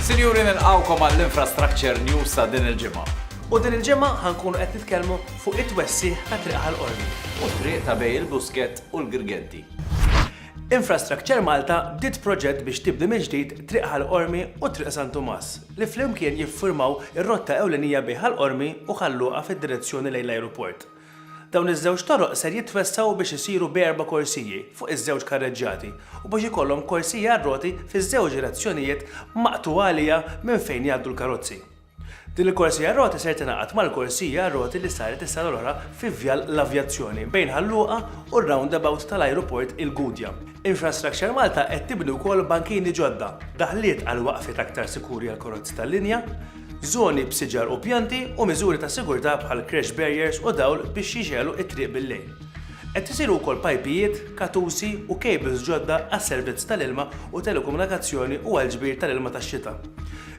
Sinjuri nilqgħukom għall-Infrastructure News ta' din il-ġimgħa. U din il-ġimgħa ħa nkunu qed nitkellmu fuq it-twessigħ ta' Triq Ħal Qormi. U t-triq ta' bejn il-Buskett u l-Girgenti. Infrastructure Malta bdiet proġett biex tibni mill-ġdid Triq Ħal Qormi u Triq San Tumas, li flimkien jifformaw ir-rotta ewlenija bejn Ħal Qormi u Ħal Luqa fid-direzzjoni lejn l-ajruport. Dawn iż-żewġ toroq ser jitwessgħu biex isiru b'erba' korsiji fuq iż-żewġ karreġġjati u biex ikollhom korsiji għar-roti fiż-żewġ direzzjonijiet maqtugħa għaliha minn fejn jgħaddu l-karozzi. Din il-korsija għar-roti ser tingħaqad mal-korsija għar-roti li saret is-sena l-oħra fi Vjal l-Avjazzjoni bejn Ħal Luqa u r-roundabout tal-Ajruport il-Gudja. Infrastructure Malta qed tibni wkoll bankini ġodda, daħliet għal waqfiet aktar sikuri għall-karozzi tal-linja, żoni b'siġar u pjanti u miżuri ta' sigurtà bħal crash barriers u dawl biex jixgħelu t-triq bil-lejl. Qed isiru wkoll pajpijiet, katusi u cables ġodda għas-servizz tal-ilma u telekomunikazzjoni u għall-ġbir tal-ilma tax-xita.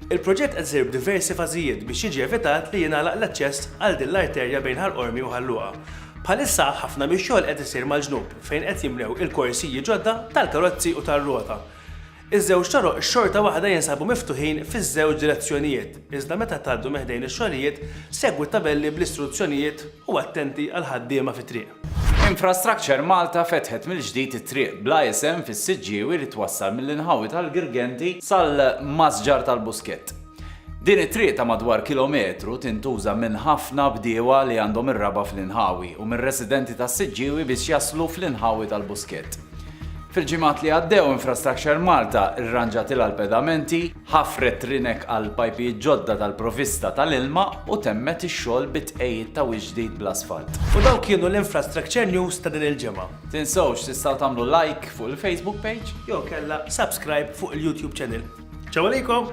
Il-proġett qed isir b'diversi fażijiet biex jiġi evitat li jingħalaq l-aċċess għal din l-arterja bejn Ħal Qormi u Ħal Luqa. Bħalissa ħafna mix-xogħol qed isir mal-ġnub. fejn qed jimlew il-korsiji ġodda tal-karozzi u tar-rota. Iż-żewġ toroq xorta waħda jinsabu miftuħin fiż-żewġ direzzjonijiet, iżda meta tgħaddu minn ħdejn ix-xogħlijiet, segwu t-tabelli bl-istruzzjonijiet u attenti għall-ħaddiema fit-triq. Infrastructure Malta fetħet mill-ġdid it-triq bla isem fis-Siġġiewi li twassal mill-inħawi tal-Girgenti sal-Masġar tal-Buskett. Din it-triq ta' madwar kilometru tintuża minn ħafna bdiewa li għandhom ir-raba' fl-inħawi u minn residenti tas-Siġġiewi biex jaslu fl-inħawi tal-Buskett. Fil-ġimgħat li għaddew Infrastructure Malta rranġatilha l-pedamenti, ħafret rinek għal pajpijiet ġodda tal-provista tal-ilma u temmet ix-xogħol bit-tqegħid ta' wiċċ ġdid bl-asfalt. U dawk kienu l-Infrastructure News ta' din il-ġimgħa. Tinsewx tistgħu tagħmlu like fuq il-Facebook page. Jew inkella subscribe fuq il-YouTube channel. Ciao għalikom!